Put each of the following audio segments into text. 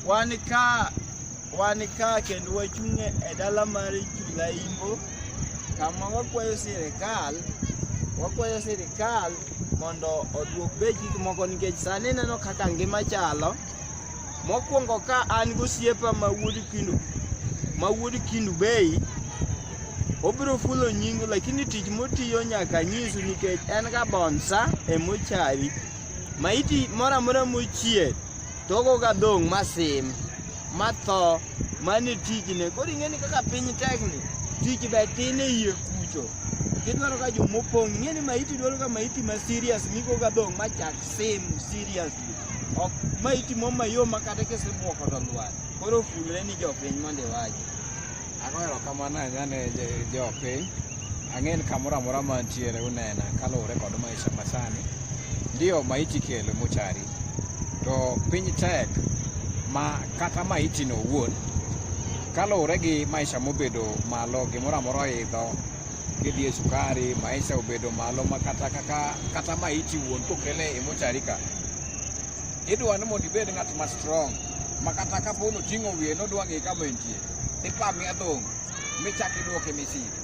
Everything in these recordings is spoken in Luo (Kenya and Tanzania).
Wan ka wan ka kendo wachung' e dala mar Chulaimbo kama wakwayo sirikal wakwayo sirikal mondo oduok bech gik moko nikech sani neno kaka ngima chalo. Mokwongo ka an gosiepa ma wuod Kindu ma wuod Kindu Bay obiro fulo nyingu lakini tich motiyo nyaka nyisu nikech en ga bonsa emochari. Maiti moro amora mochier togoga dhong' masim matho mane tijne. Koro ing'eni kaka piny tekni, tich be tin e iye kucho. Gidwaro ka jo mopong', ing'eni maiti dwaro ka maiti ma serious migoga dhong' machak sim seriously. Ok maiti mo mayom ma kata kisebuoko to lwar. Koro fulre ni jopiny mondo iwachi. Agoero kamano anyane jopiny. Ang'e ni kamoro amora ma antiere unena kaluwore kod maisha masani. Ndio maiti kelo mochari, to piny tek ma kata maiti no owuon kaluwore gi maisha mobedo malo gimoro amora oidho kidhi e sukari maisha obedo malo ma kata kaka kata maiti wuon kokele e mochari ka idwa ni mondo ibed ng'at ma strong ma kata kapo noting'o wiye nodwa ng'e kama entie ipami adhong' michak iduoke Misiri.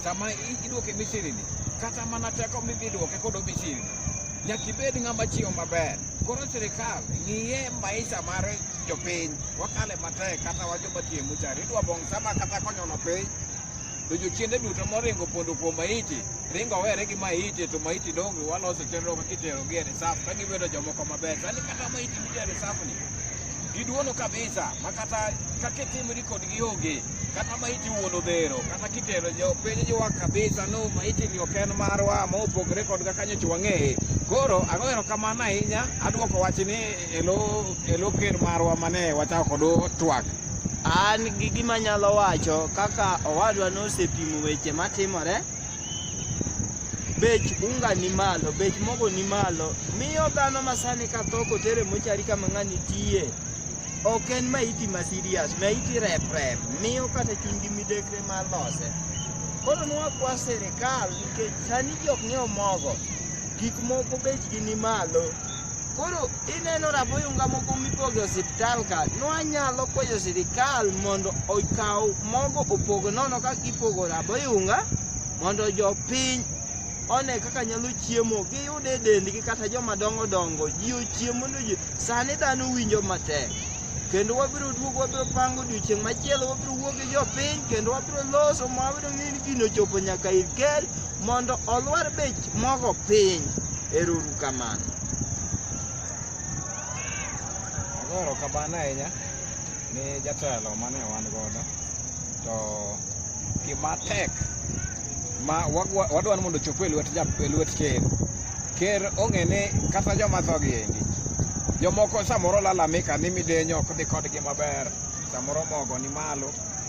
Sama iduoke Misiri ni, kata mana teko midhi duoke kodo Misiri ni, nyaka ibed ng'ama chiwo maber. Koro sirikal ng'iye maisha mar jopiny, wakale matek kata wajoma tiyo muchari, idwa bong' sama kata konyono piny to jochiende duto moringo pondo kuom maiti ringo owere gi maiti to maiti donge waloso chenro kaka itero gi e reserve ka gibedo jomoko maber sani kata maiti nitiere reserve ni Giduono kabisa ma kata kaka itimri kodgi onge kata ma iti wuon odhero kata kitero piny jiwa kabisa no ma itini ok en marwa ma opogore kod kaka nyoch wang'eye koro agoero kamano ahinya adwoko wachni e lo ker marwa mane wachako kod twak an gi gima nyalo wacho kaka owadwa nosepimo weche matimore bech unga ni malo, bech mogo ni malo, miyo dhano masani ka tho kotere mochari kama ng'ani tiye ok en maiti ma serious, maiti rep rep, miyo kata chunygi midekre mar lose. Koro nwakwa serikal nikech sani jok ng'iewo mogo, gik moko bechgi ni malo. Koro ineno raboyunga moko mipogo e osiptal ka, nwanyalo kwayo sirikal mondo okaw mogo opog nono ka ipogo raboyunga mondo jopiny one kaka nyalo chiemo giyude e dendgi kata joma dongo dongo ji ochiem mondo ji sani dhano winjo matek kendo wabiro duogo wabiro pango odiochieng' machielo wabiro wuo gi jopiny kendo wabiro loso ma wabiro ng'e ni gino chopo nyaka ir ker mondo olwar bech mogo piny. Ero uru kamano. Agoro kabana ahinya ni jatelo mane wan godo to gima tek ma wadwani mondo ochop e lwet e lwet ker ker ong'e ni kata joma thogi endi jomoko samoro lalamika ni midenyo ok dhi kodgi maber samoro mogo ni malo